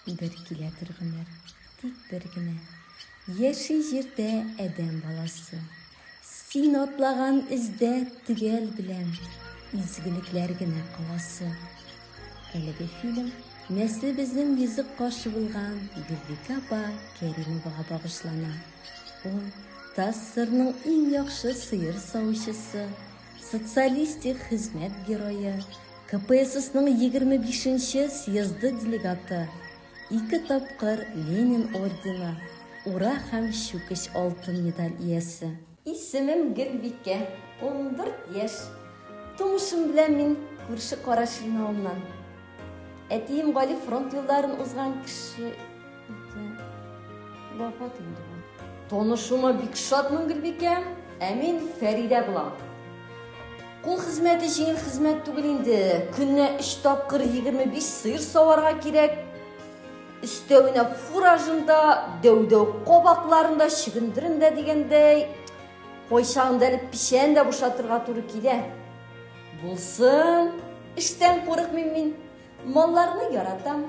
Бер килә бер гомер, тик бер генә. Яши җирдә адәм баласы. Син атлаган эздә төгәл белән изгелекләр генә каласы. Әлеге фильм Нәслебезнең йөзек кашы булган Гөлбикә апа Кәримовага багышлана. Ул Тассырның иң яхшы сыер савучысы, Социалистик хезмәт герое, КПССның 25 нче съезды делегаты, ике тапкыр Ленин ордены, Ура һәм Чүкеч алтын медаль иясе. Исемем Гөлбикә, ундүрт яшь. Тумышым белән мин күрше Карашилнауыннан. Әтием Гали фронт юлларын узган кеше. Вафат инде ул. Танышуыма бик шатмын, Гөлбикә. Ә мин Фәридә булам. Кул хезмәте җиңел хезмәт түгел инде. Көнне 3 тапкыр 25 сыер саварга кирәк. Өстәвенә фуражында, дәүдәү кабакларында, чөгендерендә дигәндәй, кайчагында әле печән дә бушатырга туры килә. Булсын, эштән курыкмыйм мин. Малларны яратам.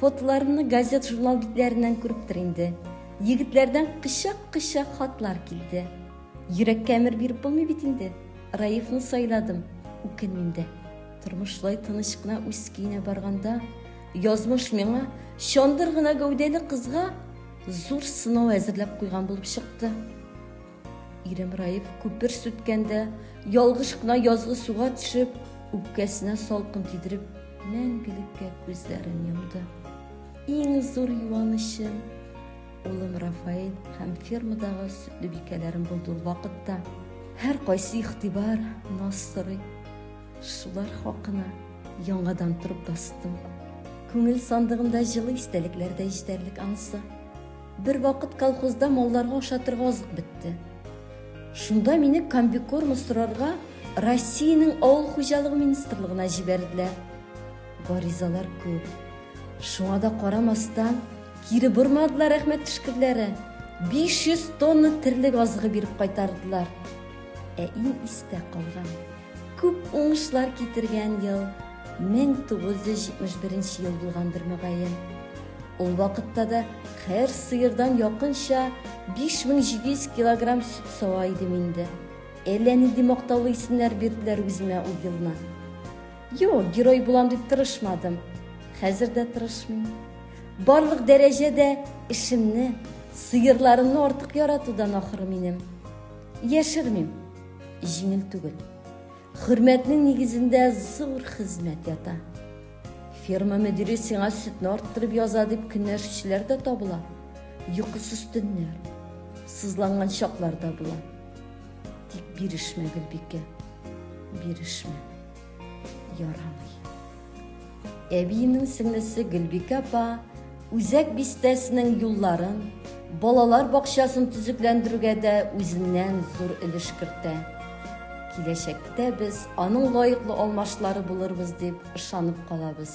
Фотоларымны газет-журнал битләреннән күрептер инде. Егетләрдән кычак-кычак хатлар килде. Йөрәккә әмер биреп булмый бит инде. Раифны сайладым, үкенмим дә. Тормышлай тыныч кына үз көенә барганда, язмыш миңа чандыр гына гәүдәле кызга зур сынау әзерләп куйган булып чыкты. Ирем Раиф күпер сүткәндә, ялгыш кына язгы суга төшеп, үпкәсенә салкын тидереп, мәңгелеккә күзләрен йомды. Иң зур юанычым улым Рафаэль һәм фермадагы сөтле бикәләрем булды ул вакытта. Һәр кайсы игътибар, наз сорый. Шулар хакына яңадан торып бастым. Күңел сандыгымда җылы истәлекләр дә җитәрлек анысы. Бервакыт колхозда малларга ашатырга азык бетте. Шунда мине комбикорма сорарга Россиянең авыл хуҗалыгы министрлыгына җибәрделәр. Гаризалар күп. Шуңа да карамастан, кире бормадылар рәхмәт төшкерләре. 500 тонна терлек азыгы биреп кайтардылар. Ә иң истә калган Күп уңышлар китергән ел 1971 нче ел булгандыр, мөгаен. Ул вакытта да һәр сыердан якынча 5700 килограмм сөт сава идем инде. Әллә нинди мактаулы исемнәр бирделәр үземә ул елны. Юк, герой булам дип тырышмадым. Хәзер дә тырышмыйм. Барлык дәрәҗә дә эшемне, сыерларымны артык яратудан ахры минем. Яшермим. Җиңел түгел. Хөрмәтнең нигезендә зур хезмәт ята. Ферма мөдире сиңа сөтне арттырып яза дип көнләшүчеләр дә табыла. Йокысыз төннәр, сызланган чаклар да була. Тик бирешмә, Гөлбикә. Бирешмә. Ярамый. Әбиенең сеңлесе Гөлбикә апа Үзәк бистәсенең юлларын, балалар бакчасын төзекләндерүгә дә үзеннән зур өлеш кертә. Киләчәктә без аның лаеклы алмашлары булырбыз дип ышанып калабыз.